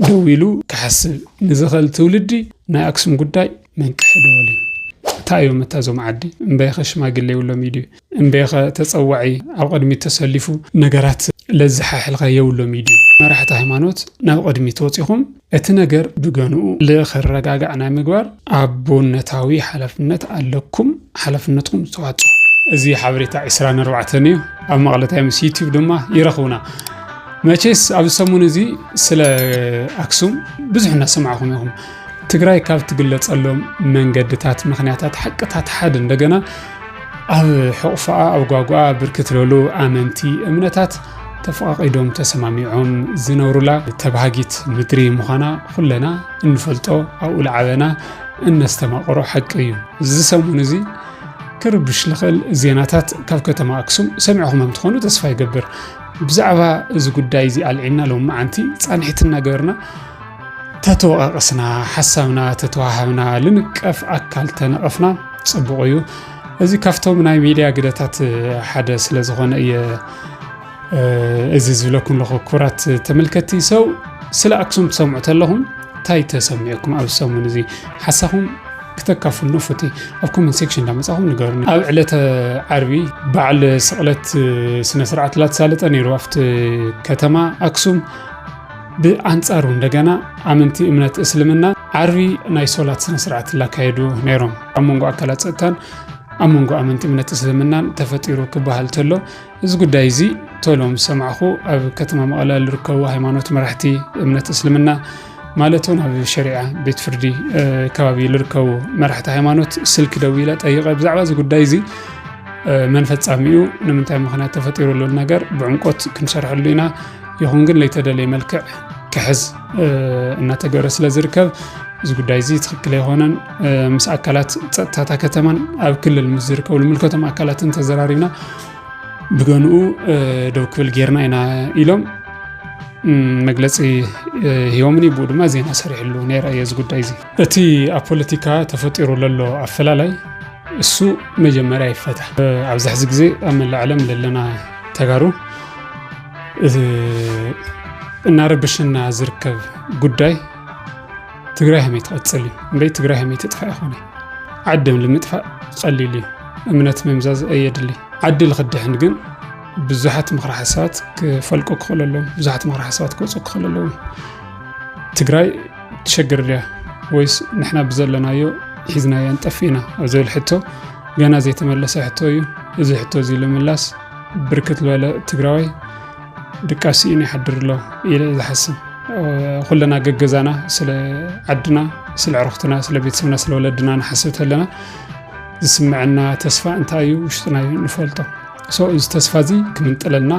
ደው ኢሉ ክሓስብ ንዝኸል ትውልዲ ናይ ኣክሱም ጉዳይ መን ክሕደወልዩ እንታይ እዮም እታ እዞም ዓዲ እምበይኸ ሽማግሌ የብሎም እዩ ድዩ እምበይኸ ተጸዋዒ ኣብ ቅድሚት ተሰሊፉ ነገራት ለዘሓሕልኸ የብሎም እዩ ድዩ መራሕቲ ሃይማኖት ናብ ቅድሚት ወጺኹም እቲ ነገር ብገንኡ ልክረጋጋዕ ናይ ምግባር ኣቦነታዊ ሓላፍነት ኣለኩም ሓላፍነትኩም ዝተዋጽኦ እዚ ሓበሬታ ዕስራን ኣርባዕተን እዩ ኣብ መቐለ ታይምስ ዩቲዩብ ድማ ይረኽቡና። መቼስ ኣብዚ ሰሙን እዚ ስለ ኣክሱም ብዙሕ እናሰማዕኹም ኢኹም። ትግራይ ካብ ትግለፀሎም መንገድታት ምክንያታት ሓቅታት ሓደ እንደገና ኣብ ሕቑፋኣ ኣብ ጓጓኣ ብርክ ትለሉ ኣመንቲ እምነታት ተፈቓቒዶም ተሰማሚዖም ዝነብሩላ ተባሃጊት ምድሪ ምዃና ኩለና እንፈልጦ ኣብኡ ልዓበና እነስተማቕሮ ሓቂ እዩ እዚ ሰሙን እዚ ክርብሽ ልኽእል ዜናታት ካብ ከተማ ኣክሱም ሰሚዕኹም እንትኾኑ ተስፋ ይገብር ብዛዕባ እዚ ጉዳይ እዚ ኣልዒልና ሎም መዓንቲ ፃንሒት እናገበርና ተተወቃቀስና ሓሳብና ተተዋሃብና ልንቀፍ ኣካል ተነቐፍና ፅቡቕ እዩ እዚ ካብቶም ናይ ሚድያ ግደታት ሓደ ስለ ዝኾነ እየ እዚ ዝብለኩም ኣለኹ ክቡራት ተመልከቲ ሰው ስለ ኣክሱም ትሰምዑ ተለኹም እንታይ ተሰሚዑኩም ኣብ ሰሙን እዚ ሓሳኹም ክተካፍሉ ፉቲ ኣብ ኮመንት ሴክሽን እንዳመጻኹም ንገሩኒ። ኣብ ዕለተ ዓርቢ በዓል ስቕለት ስነ ስርዓት ላተሳለጠ ነይሩ ኣብቲ ከተማ ኣክሱም። ብኣንጻሩ እንደገና ኣመንቲ እምነት እስልምና ዓርቢ ናይ ሶላት ስነ ስርዓት ላካየዱ ነይሮም። ኣብ መንጎ ኣካላት ፀጥታን ኣብ መንጎ ኣመንቲ እምነት እስልምናን ተፈጢሩ ክበሃል ተሎ እዚ ጉዳይ እዚ ቶሎ ምስ ሰማዕኹ ኣብ ከተማ መቐለ ዝርከቡ ሃይማኖት መራሕቲ እምነት እስልምና ማለት እውን ኣብ ሸሪዓ ቤት ፍርዲ ከባቢ ዝርከቡ መራሕቲ ሃይማኖት ስልኪ ደው ኢለ ጠይቀ ብዛዕባ እዚ ጉዳይ እዚ መን ፈፃሚኡ ንምንታይ ምክንያት ተፈጢሩ ዘሎ ነገር ብዕምቆት ክንሰርሐሉ ኢና ይኹን ግን ለይተደለየ መልክዕ ክሕዝ እናተገበረ ስለ ዝርከብ እዚ ጉዳይ እዚ ትክክል ኣይኮነን ምስ ኣካላት ፀጥታታ ከተማን ኣብ ክልል ምስ ዝርከቡ ንምልከቶም ኣካላትን ተዘራሪብና ብገንኡ ደው ክብል ጌርና ኢና ኢሎም መግለፂ ሂቦምኒ ብኡ ድማ ዜና ሰሪሕሉ ነይረ እየ እዚ ጉዳይ እዚ እቲ ኣብ ፖለቲካ ተፈጢሩ ዘሎ ኣፈላላይ እሱ መጀመርያ ይፈታ ኣብዚ ሕዚ ግዜ ኣብ መላእ ዓለም ዘለና ተጋሩ እናረብሽና ዝርከብ ጉዳይ ትግራይ ሃመይ ትቐፅል እዩ እምበይ ትግራይ ሃመይ ትጥፋእ ይኾነ ዓድም ልምጥፋእ ቐሊል እዩ እምነት ምምዛዝ ኣየድሊ ዓዲ ልኽድሕን ግን ብዙሓት ምክረ ሓሳባት ክፈልቁ ክኽእሉ ኣለዎም ብዙሓት ምክረ ሓሳባት ክወፁ ክኽእሉ ኣለዎም ትግራይ ትሸግር ድያ ወይስ ንሕና ብዘለናዮ ሒዝናዮ ንጠፊእና ኣብ ዝብል ሕቶ ገና ዘይተመለሰ ሕቶ እዩ እዚ ሕቶ እዚ ልምላስ ብርክት ዝበለ ትግራዋይ ድቃስ ስኢኑ ይሓድር ኣሎ ኢለ ዝሓስብ ኩለና ገገዛና ስለ ዓድና ስለ ዕረኽትና ስለ ቤተሰብና ስለ ወለድና ንሓስብ ተለና ዝስምዐና ተስፋ እንታይ እዩ ውሽጥና እዩ ንፈልጦ እዚ ተስፋ እዚ ክምንጥለና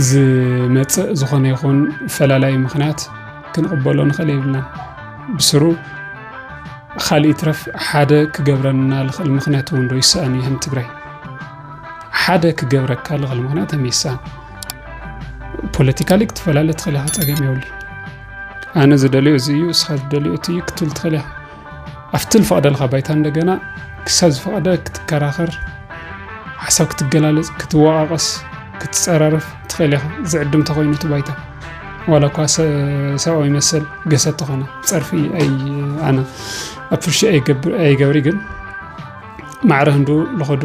ዝመፅእ ዝኾነ ይኹን ፈላላይ ምክንያት ክንቕበሎ ንኽእል የብልና ብስሩ ካልእ ይትረፍ ሓደ ክገብረና ዝኽእል ምክንያት እውን ዶ ይሰኣን ይህን ትግራይ ሓደ ክገብረካ ልኽእል ምክንያት ተሜሳ ፖለቲካሊ ክትፈላለ ትኽእል ኢኻ ፀገም የብሉ ኣነ ዝደልዮ እዚ እዩ እስኻ ዝደልዮ እቲ እዩ ክትብል ትኽእል ኢኻ ኣብቲ ዝፈቕደልካ ባይታ እንደገና ክሳብ ዝፈቐደ ክትከራኸር ሓሳብ ክትገላለፅ ክትወቃቐስ ክትፀራርፍ ትኽእል ኢኻ ዝዕድም ተኮይኑ እቲ ባይታ ዋላ እኳ ሰብኣዊ መሰል ገሰ ተኾነ ፀርፊ ኣነ ኣብ ፍርሺ ኣይገብሪ ግን ማዕረ ህንዱ ልኸዱ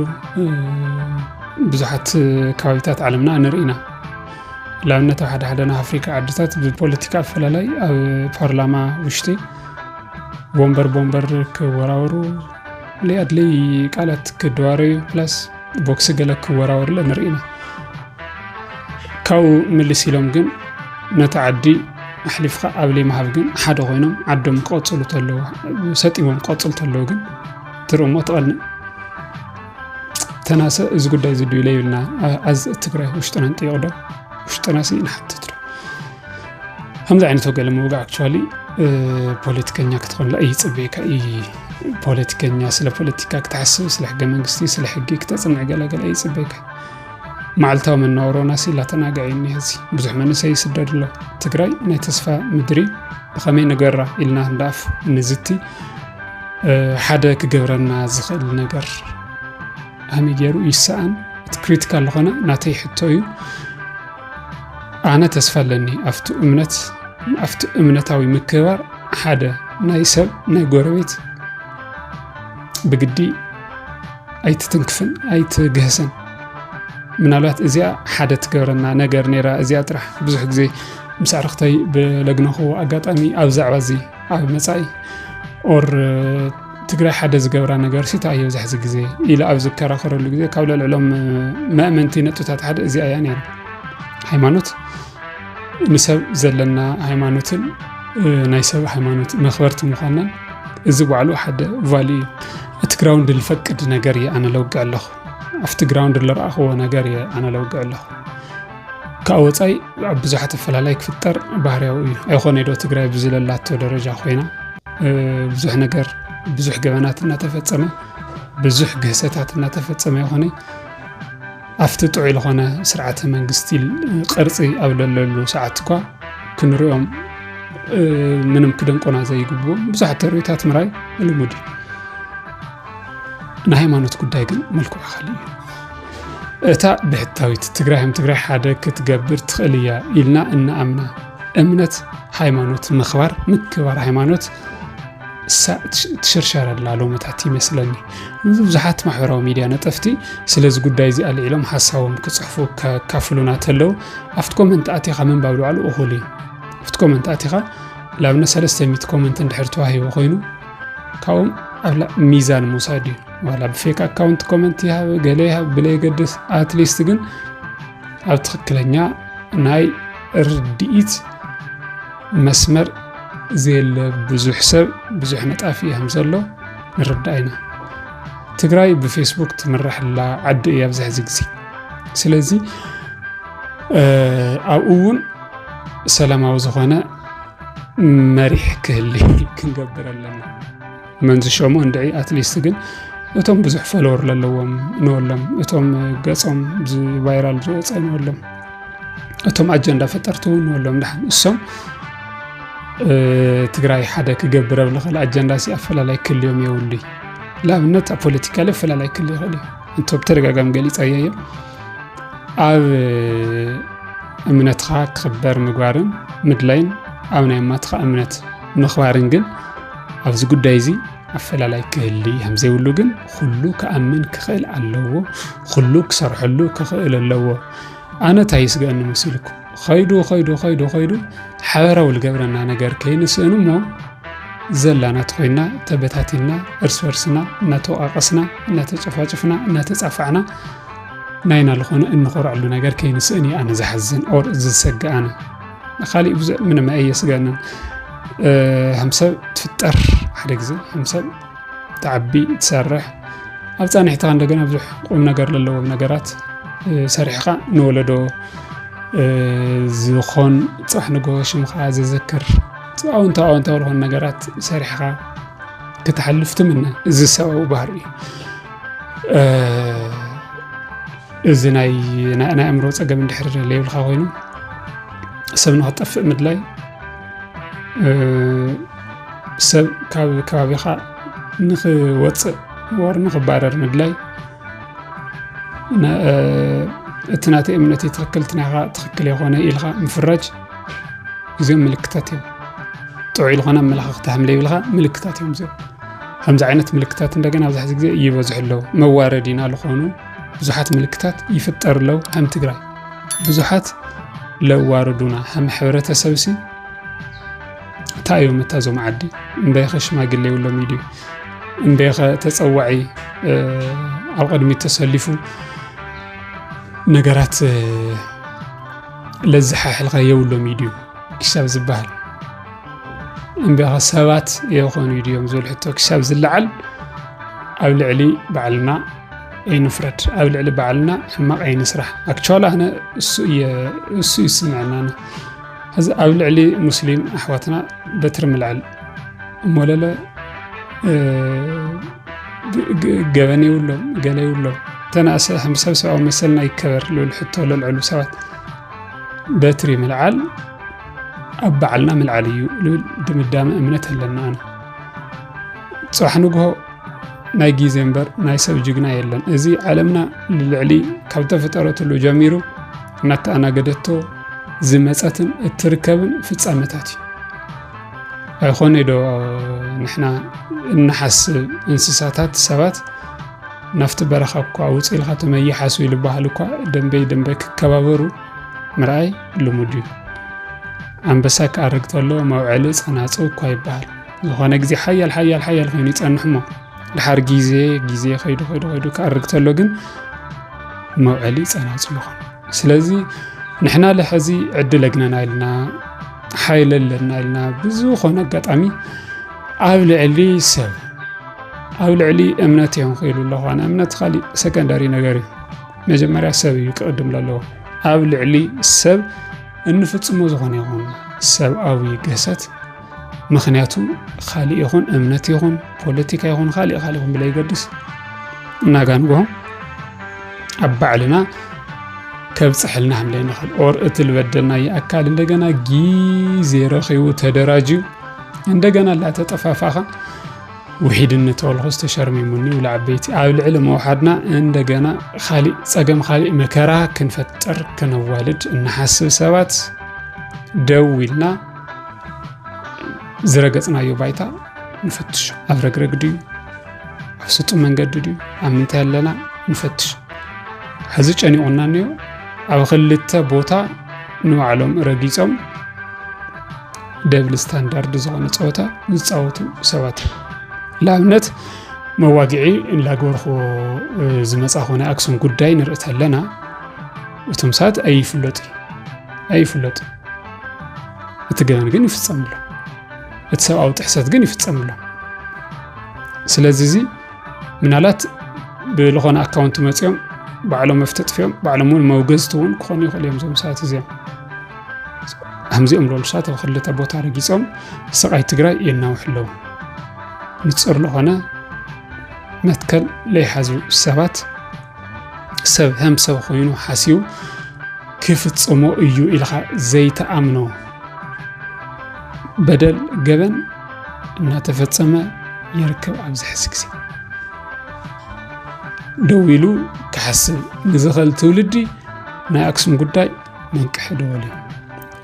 ብዙሓት ከባቢታት ዓለምና ንርኢ ኢና ላብነት ኣብ ሓደ ሓደ ናይ ኣፍሪካ ዓድታት ብፖለቲካ ኣፈላላይ ኣብ ፓርላማ ውሽጢ ቦምበር ቦምበር ክወራወሩ ለይኣድለይ ቃላት ክደዋረዩ ፕላስ ቦክሲ ገለ ክወራወርለ ንርኢ ኢና ካብኡ ምልስ ኢሎም ግን ነቲ ዓዲ ኣሕሊፍካ ኣብ ለይ ምሃብ ግን ሓደ ኮይኖም ዓዶም ክቐፅሉ ተለዉ ሰጢሞም ክቐፅሉ ተለዉ ግን ትርሞ ትቐልም ተናሰ እዚ ጉዳይ እዚ ድዩ ለይብልና ኣዝ ትግራይ ውሽጥና ንጥይቕ ዶ ውሽጥና ሲ ንሓትት ዶ ከምዚ ዓይነት ወገለ ምውጋ ኣክቹዋሊ ፖለቲከኛ ክትኾንላ እዩ ፅበየካ እዩ ፖለቲከኛ ስለ ፖለቲካ ክትሓስብ ስለ ሕገ መንግስቲ ስለ ሕጊ ክተፅንዕ ገለገለ እዩ ፅበየካ መዓልታዊ መነባብሮና ሲ ላተናግዐ እዩ እኒሀ እዚ ብዙሕ መንእሰይ ይስደድ ኣሎ ትግራይ ናይ ተስፋ ምድሪ ብኸመይ ንገራ ኢልና ክንደኣፍ ንዝቲ ሓደ ክገብረና ዝኽእል ነገር ኣመይ ገይሩ ይሰኣን እቲ ክሪቲካል ዝኾነ ናተይ ሕቶ እዩ ኣነ ተስፋ ኣለኒ ኣብቲ እምነት ኣብቲ እምነታዊ ምክባር ሓደ ናይ ሰብ ናይ ጎረቤት ብግዲ ኣይትትንክፍን ኣይትግህስን ምናልባት እዚኣ ሓደ ትገብረና ነገር ነይራ እዚኣ ጥራሕ ብዙሕ ግዜ ምስ ኣርክተይ ብለግነኹ ኣጋጣሚ ኣብ ዛዕባ እዚ ኣብ መፃኢ ኦር ትግራይ ሓደ ዝገብራ ነገር ሲታ እየ ብዛሕዚ ግዜ ኢለ ኣብ ዝከራኸረሉ ግዜ ካብ ለልዕሎም መእመንቲ ነጥብታት ሓደ እዚኣ እያ ነይራ ሃይማኖት ንሰብ ዘለና ሃይማኖትን ናይ ሰብ ሃይማኖት መክበርቲ ምኳናን እዚ ባዕሉ ሓደ ቫልዩ እዩ እቲ ግራውንድ ዝፈቅድ ነገር እየ ኣነ ለውግዕ ኣለኹ ኣብቲ ግራውንድ ዝረኣኽዎ ነገር እየ ኣነ ለውግዕ ኣለኹ ካብ ወፃኢ ኣብ ብዙሓት ኣፈላላይ ክፍጠር ባህርያዊ እዩ ኣይኮነ ዶ ትግራይ ብዝለላቶ ደረጃ ኮይና ብዙሕ ነገር ብዙሕ ገበናት እናተፈፀመ ብዙሕ ግህሰታት እናተፈፀመ ይኾነ ኣብቲ ጥዑይ ልኾነ ስርዓተ መንግስቲ ቅርጺ ኣብ ለለሉ ሰዓትኳ ክንሪኦም ምንም ክደንቆና ዘይግብዎም ብዙሓት ተርእዮታት ምራይ ልሙድ እዩ። ንሃይማኖት ጉዳይ ግን መልክዑ ካልእ እዩ። እታ ብሕታዊት ትግራይ ከም ትግራይ ሓደ ክትገብር ትኽእል እያ ኢልና እናኣምና እምነት ሃይማኖት ምኽባር ምክባር ሃይማኖት ትሽርሸረላ ሎመታት ይመስለኒ። ብዙሓት ማሕበራዊ ሚድያ ነጠፍቲ ስለዚ ጉዳይ እዚ ኣልዒሎም ሓሳቦም ክጽሕፉ ከካፍሉና ተለው ኣብቲ ኮመንት ኣቲኻ ምንባብ ልባዕሉ እኹል እዩ ኣብቲ ኮመንት ኣቲኻ ንኣብነት 300 ኮመንት እንድሕር ተዋሂቦ ኮይኑ ካብኦም ኣብ ሚዛን ምውሳድ እዩ ዋላ ብፌክ ኣካውንት ኮመንት ይሃብ ገለ ይሃብ ብለየገድስ ኣትሊስት ግን ኣብ ትክክለኛ ናይ ርድኢት መስመር ዘየለ ብዙሕ ሰብ ብዙሕ ነጣፊ እዮም ዘሎ ንርዳእ ኢና። ትግራይ ብፌስቡክ ትምራሕላ ዓዲ እያ ኣብዚ ሕዚ ግዜ ስለዚ ኣብኡ እውን ሰላማዊ ዝኾነ መሪሕ ክህሊ ክንገብር ኣለና መን ዝሸሞ እንድዒ ኣትሊስት ግን እቶም ብዙሕ ፈለወር ዘለዎም ንወሎም እቶም ገፆም ቫይራል ዝወፀ ንወሎም እቶም ኣጀንዳ ፈጠርቲ እውን ንበሎም ድሓን እሶም ትግራይ ሓደ ክገብር ኣብ ዝኽእል ኣጀንዳ ሲ ኣፈላላይ ክልዮም የብሉ ንኣብነት ኣብ ፖለቲካ ለ ኣፈላላይ ክል ይኽእል እዩ እንተ ብተደጋጋሚ ገሊፀዮ እዮም ኣብ እምነትኻ ክኽበር ምግባርን ምድላይን ኣብ ናይ ኣማትኻ እምነት ምኽባርን ግን ኣብዚ ጉዳይ እዚ ኣፈላላይ ክህሊ ከም ዘይብሉ ግን ኩሉ ክኣምን ክኽእል ኣለዎ ኩሉ ክሰርሐሉ ክኽእል ኣለዎ ኣነ እንታይ ይስገእኒ መሲልኩም ኸይዱ ኸይዱ ኸይዱ ኸይዱ ሓበራዊ ዝገብረና ነገር ከይንስእን እሞ ዘላና ተኮይና ተበታቲና እርስ በርስና እናተወቃቀስና እናተጨፋጭፍና እናተፃፋዕና ናይና ዝኾነ እንኾርዐሉ ነገር ከይንስእን እዩ ኣነ ዝሓዝን ኦር ዝሰግእ ኣነ ንካሊእ ብዙ ምንም ኣየስገንን ሃምሰብ ትፍጠር ሓደ ግዜ ሃምሰብ ትዓቢ ትሰርሕ ኣብ ፃንሒትካ እንደገና ብዙሕ ቁም ነገር ዘለዎም ነገራት ሰሪሕኻ ንወለዶ ዝኾን ፃሕ ንጎ ሽምኻ ዘዘክር ኣውንታ ኣውንታ ዝኾኑ ነገራት ሰሪሕኻ ክትሓልፍ ትምነ እዚ ሰብኣዊ ባህሪ እዩ እዚ ናይ ናይ ኣእምሮ ፀገም እንድሕር ለይብልካ ኮይኑ ሰብ ንክጠፍእ ምድላይ ሰብ ካብ ከባቢኻ ንክወፅእ ወር ንክባረር ምድላይ እቲ ናተይ እምነት እዩ ትኽክል እቲ ናይኻ ትኽክል የኾነ ኢልካ ምፍራጅ እዚኦም ምልክታት እዮም ጥዑይ ዝኾነ ኣመለኻኽታ ሃምለ ይብልካ ምልክታት እዮም እዚኦም ከምዚ ዓይነት ምልክታት እንደገና ኣብዚ ሕዚ ግዜ ይበዝሑ ኣለዉ መዋረድ ኢና ዝኾኑ ብዙሓት ምልክታት ይፍጠር ኣለዉ ከም ትግራይ ብዙሓት ለዋርዱና ከም ሕብረተሰብ ሲ እንታይ እዮም እታ እዞም ዓዲ እምበይኸ ሽማግሌ የብሎምን ድዩ እምበይኸ ተፀዋዒ ኣብ ቅድሚት ተሰሊፉ ነገራት ለዝሓሕልካ የብሎም ድዩ ክሳብ ዝበሃል እምበይኸ ሰባት የኾኑ ድዮም ዝብል ሕቶ ክሳብ ዝለዓል ኣብ ልዕሊ ባዕልና ኣይንፍረድ ኣብ ልዕሊ ባዕልና ሕማቕ ኣይንስራሕ ኣክቹዋሊ ኣነ እሱ እዩ ስምዐና ሕዚ ኣብ ልዕሊ ሙስሊም ኣሕዋትና በትሪ ምልዐል እሞለለ ገበን የብሎም ገለ የብሎም ተናእሰ ከም ሰብ ሰብኣዊ መሰልና ይከበር ልብል ሕቶ ለልዕሉ ሰባት በትሪ ምልዓል ኣብ ባዕልና ምልዓል እዩ ልብል ድምዳመ እምነት ኣለና ኣነ ፅባሕ ንግሆ ናይ ግዜ እምበር ናይ ሰብ ጅግና የለን እዚ ዓለምና ልልዕሊ ካብ ተፈጠረትሉ ጀሚሩ እናተኣናገደቶ ዝመጸትን እትርከብን ፍጻመታት እዩ። ኣይኮነ ዶ ንሕና እንሓስብ እንስሳታት ሰባት ናብቲ በረኻ እኳ ውፅ ኢልካ ተመይሓሱ ይልበሃል እኳ ደንበይ ደንበይ ክከባበሩ ምርኣይ ልሙድ እዩ። ኣንበሳ ክኣርግ ተሎ መውዐሊ ፀናፅ እኳ ይበሃል። ዝኾነ ግዜ ሓያል ሓያል ሓያል ኮይኑ ይፀንሕ እሞ ድሓር ግዜ ግዜ ከይዱ ከይዱ ከይዱ ክኣርግ ተሎ ግን መውዐሊ ፀናፅ ይኾን። ስለዚ ንሕና ለሐዚ ዕድል ኣግነና ኢልና ሓይለ ኣለና ኢልና ብዝኾነ ኣጋጣሚ ኣብ ልዕሊ ሰብ ኣብ ልዕሊ እምነት እዮም ክኢሉ ኣለኹ ኣነ እምነት ካሊእ ሰከንዳሪ ነገር እዩ መጀመርያ ሰብ እዩ ክቕድም ዘለዎ ኣብ ልዕሊ ሰብ እንፍፅሞ ዝኾነ ይኹን ሰብኣዊ ግህሰት ምክንያቱ ካሊእ ይኹን እምነት ይኹን ፖለቲካ ይኹን ካሊእ ካሊእ ይኹን ብለይገድስ እናጋንጎም ኣብ ባዕልና ከብፅሐልና ከም ዘይንኽእል ኦር እቲ ዝበደልናዮ ኣካል እንደገና ግዜ ረኺቡ ተደራጅዩ እንደገና ላተጠፋፋኻ ውሒድነት ወልኹ ዝተሸርሚሙኒ ውላ ዓበይቲ ኣብ ልዕሊ መውሓድና እንደገና ካሊእ ፀገም ካሊእ መከራ ክንፈጥር ክነዋልድ እንሓስብ ሰባት ደው ኢልና ዝረገጽናዮ ባይታ ንፈትሽ ኣብ ረግረግ ድዩ ኣብ ስጡ መንገዲ ድዩ ኣብ ምንታይ ኣለና ንፈትሽ ሕዚ ጨኒቑና እኒኦ ኣብ ክልተ ቦታ ንባዕሎም ረጊፆም ደብል ስታንዳርድ ዝኾነ ፀወታ ዝፃወቱ ሰባት ንኣብነት መዋግዒ እንላገበርኩ ዝመፃ ኮነ ኣክሱም ጉዳይ ንርኢ ተለና እቶም ሰባት ኣይፍለጡ ኣይፍለጡ እቲ ገበን ግን ይፍጸም ኣሎ እቲ ሰብኣዊ ጥሕሰት ግን ይፍጸም ኣሎ ስለዚ እዚ ምናልባት ብዝኾነ ኣካውንቲ መፅኦም ባዕሎም መፍተጥፊኦም ባዕሎም እውን መውገዝቲ እውን ክኾኑ ይኽእሉ እዮም ዞም ሰባት እዚኦም ከምዚኦም ዝበሉ ሰባት ኣብ ክልተ ቦታ ረጊፆም ስቃይ ትግራይ የናውሑ ኣለዉ ንፅር ዝኾነ መትከል ለይሓዙ ሰባት ሰብ ሀም ሰብ ኮይኑ ሓስዩ ክፍጽሞ እዩ ኢልኻ ዘይተኣምኖ በደል ገበን እናተፈጸመ ይርከብ ኣብዚ ሕዚ ግዜ ደው ኢሉ ክሓስብ ንዝኽእል ትውልዲ ናይ ኣክሱም ጉዳይ መንቅሒ ደወል እዩ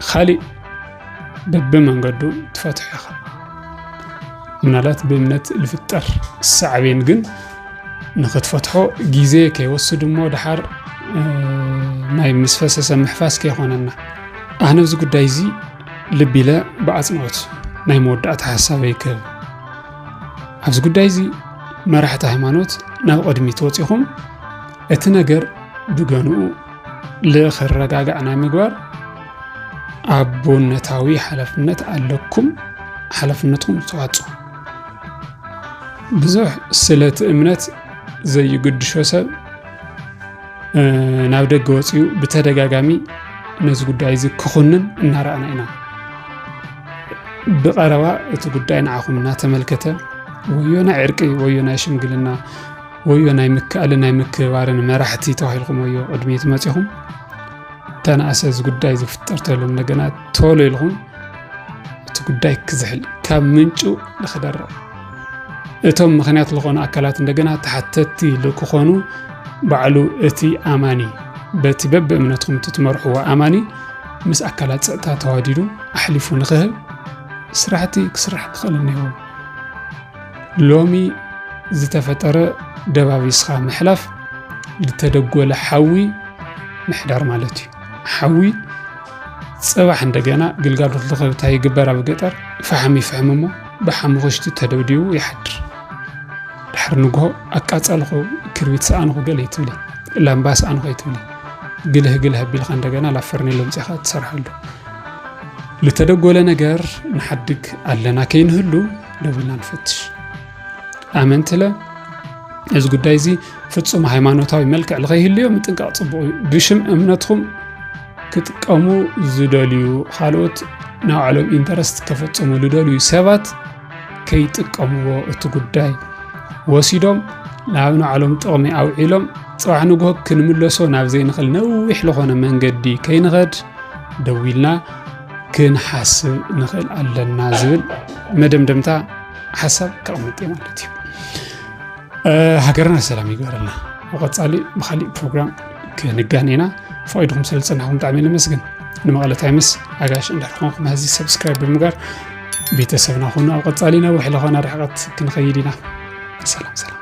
ኻሊእ በብመንገዱ ትፈትሖ ኢኻ ምናልባት ብእምነት ዝፍጠር ሳዕቤን ግን ንክትፈትሖ ግዜ ከይወስድ እሞ ድሓር ናይ ምስ ፈሰሰ ምሕፋስ ከይኮነና ኣነ እዚ ጉዳይ እዚ ልቢ ኢለ ብኣፅንኦት ናይ መወዳእታ ሓሳበ ይክህብ ኣብዚ ጉዳይ እዚ መራሕቲ ሃይማኖት ናብ ቅድሚት ወፂኹም እቲ ነገር ብገንኡ ልክረጋጋዕ ናይ ምግባር ኣቦነታዊ ሓላፍነት ኣለኩም ሓላፍነትኩም ዝተዋፅኡ ብዙሕ ስለቲ እምነት ዘይግድሾ ሰብ ናብ ደገ ወፅኡ ብተደጋጋሚ ነዚ ጉዳይ እዚ ክኹንን እናረኣና ኢና ብቐረባ እቲ ጉዳይ ንዓኹም እናተመልከተ ወዮ ናይ ዕርቂ ወዮ ናይ ሽምግልና ወዮ ናይ ምክኣልን ናይ ምክብባርን መራሕቲ ተባሂልኩም ወዮ ቅድሚ ትመፂኹም ተናእሰ እዚ ጉዳይ ዝፍጠር ተሎ እንደገና ቶሎ ኢልኹም እቲ ጉዳይ ክዝሕል ካብ ምንጩ ንክደረቕ እቶም ምክንያት ዝኾኑ ኣካላት እንደገና ተሓተቲ ልክኾኑ ባዕሉ እቲ ኣማኒ በቲ በብ እምነትኩም ትመርሕዎ ኣማኒ ምስ ኣካላት ፀጥታ ተዋዲዱ ኣሕሊፉ ንክህብ ስራሕቲ ክስራሕ ክኽእል እኒሆ። ሎሚ ዝተፈጠረ ደባቢስኻ ምሕላፍ ዝተደጎለ ሓዊ ምሕዳር ማለት እዩ። ሓዊ ፅባሕ እንደገና ግልጋሎት ልኸብታ ይግበር ኣብ ገጠር ፈሓም ይፍሕም እሞ ብሓሙኽሽቲ ተደብዲቡ ይሓድር ድሕሪ ንግሆ ኣቃፀልኹ ክርቢት ሰኣንኹ ገለ ይትብለ ላምባ ሰኣንኹ ይትብለ ግልህ ግልህ ኣቢልካ እንደገና ላብ ፈርኔሎ ምፅኻ ትሰርሓሉ ልተደጎለ ነገር ንሓድግ ኣለና ከይንህሉ ደው ኢልና ንፈትሽ ኣመንትለ እዚ ጉዳይ እዚ ፍጹም ሃይማኖታዊ መልክዕ ንኸይህልዮ ምጥንቃቕ ጽቡቕ እዩ ብሽም እምነትኩም ክጥቀሙ ዝደልዩ ካልኦት ናይ ባዕሎም ኢንተረስት ከፈጽሙ ዝደልዩ ሰባት ከይጥቀምዎ እቲ ጉዳይ ወሲዶም ናብ ንባዕሎም ጥቕሚ ኣውዒሎም ፅባሕ ንግሆ ክንምለሶ ናብ ዘይንኽእል ነዊሕ ዝኾነ መንገዲ ከይንኸድ ደዊልና ክንሓስብ ንኽእል ኣለና ዝብል መደምደምታ ሓሳብ ከቕምጥ እየ ማለት እዩ ሃገርና ሰላም ይግበረልና ብቐፃሊ ብካሊእ ፕሮግራም ክንጋን ኢና ፈቂድኩም ስለ ዝፅናኹም ብጣዕሚ ነመስግን ንመቐለ ታይምስ ኣጋሽ እንዳርኾንኩም ሀዚ ሰብስክራይብ ብምጋር ቤተሰብና ኹኑ ኣብ ቀፃሊ ናብ ውሕለ ኾና ርሕቐት ክንኸይድ ኢና ሰላም ሰላም